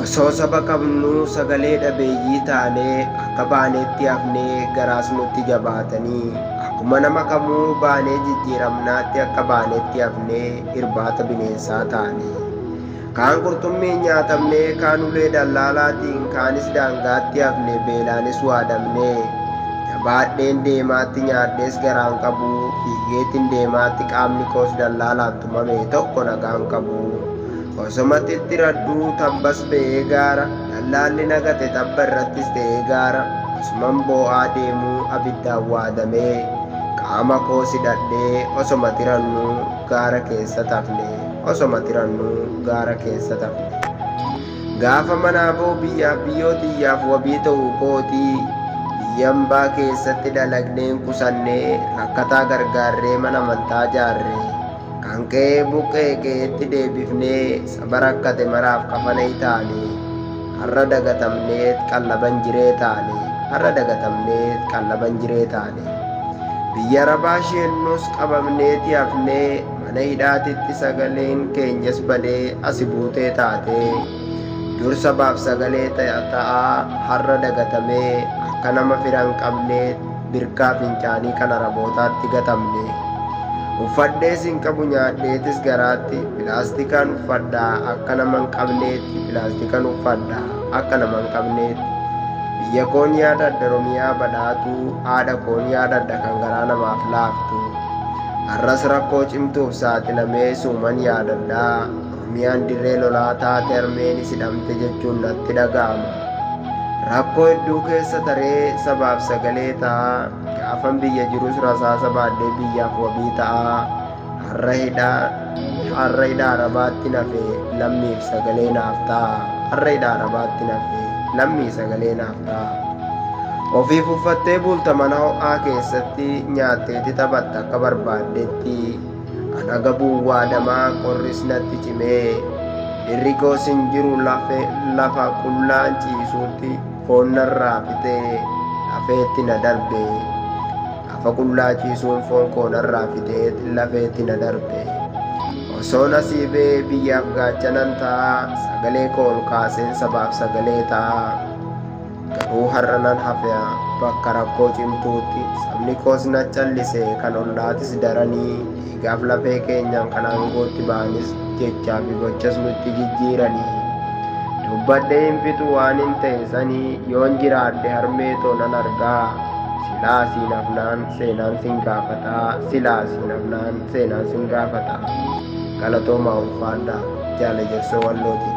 Osoo saba qabnuu sagalee dhabeeyyii taanee akka baaneetti hafnee garaas nutti jabaatanii akkuma nama kamuu baanee jijjiiramnaatti akka baaneetti hafnee irbaata bineensaa taane. Kaan qurxummiin nyaatamnee kaan ulee dallaalaatiin kaanis daangaatti hafne beelaanis waadamnee. Jabaadheen deemaatti nyaadhees garaan qabu fiigeetin deemaatti qaamni koos dallaalaan tumame tokko nagaan qabu. Osoma xixxiradhuu tambas ba'ee gaara Dhallaalli na gate tabba irrattis ta'ee gaara Osuman boo'aa deemuu abiddaan waadamee Qaama koos hidhadhee osoma xirannuu gaara keessat hafne Osoma xirannuu gaara keessat hafne Gaafa manaa ba'u biyyaaf biyyoo tiyyaaf wabii ta'uu kooti Biyya ambaa keessatti dalagneen qusannee Rakkataa gargaarree mana amantaa jaarre Kan qe'ee buqqa'e qe'eetti deebifnee saba rakkate maraaf kafanee taane har'a dagatamneet qallaban jiree taane har'a dagatamneet qallaban jiree taane biyya arabaa sheennus qabamneeti hafnee mana hidhaatitti sagaleen keenyas badee asi buutee taatee dur sabaaf sagalee ta'aa har'a dagatamee akka nama firan qabneet birkaa fincaanii kan Arabootaatti gatamne uffadhees hin qabu nyaadheetis garaatti pilaastikaan uffadha akka nama hin qabneetti pilaastikan uffadha akka nama hin qabneetti biyya koon yaadadha romiyaa badhaatuu haadha koon yaadadha kan garaa namaaf laaftu har'as rakkoo cimtuuf saaxilamee suuman yaadadha Ormiyaan dirree lolaa taate harmeenis hidhamte jechuun natti dhaga'ama. Rakkoo hedduu keessa taree sabaaf sagalee ta'aa, gaafan biyya jirus rasaasa baadhee biyyaaf wabii ta'aa, har'a hidha har'a hidha Arabaatti nafe lammiif sagalee naaf ta'aa, har'a hidha Arabaatti nafe lammii sagalee naaf ta'aa. Ofiif uffattee bulta mana ho'aa keessatti, nyaatteeti taphatta akka barbaaddetti. An agabuu waadamaa qorris natti cimee dhirri koos hin jiru lafe lafa qullaan ciisuutti foon narraa fixee lafeetti na darbe lafa qullaa ciisuun foon koo narraa fixee lafeetti na darbe osoo nasiibee biyyaaf gaachanan ta'a sagalee koo ol kaaseen sabaaf sagalee ta'a. Garuu har'a nan hafea bakka rakkoo cimtuutti sabni koos na callise kan ollaatis daranii dhiigaaf lafee keenyaan kan aangootti ba'anis jechaa fi gochas nutti jijjiiranii dubbadhee hin fixu waan hin ta'e sanii yoon jiraadhe harmee too nan argaa silaa siin hafnaan seenaan sin gaafataa silaa siin hafnaan seenaan sin gaafataa galatoomaa ulfaadhaa jaala jarsoo wallootiin.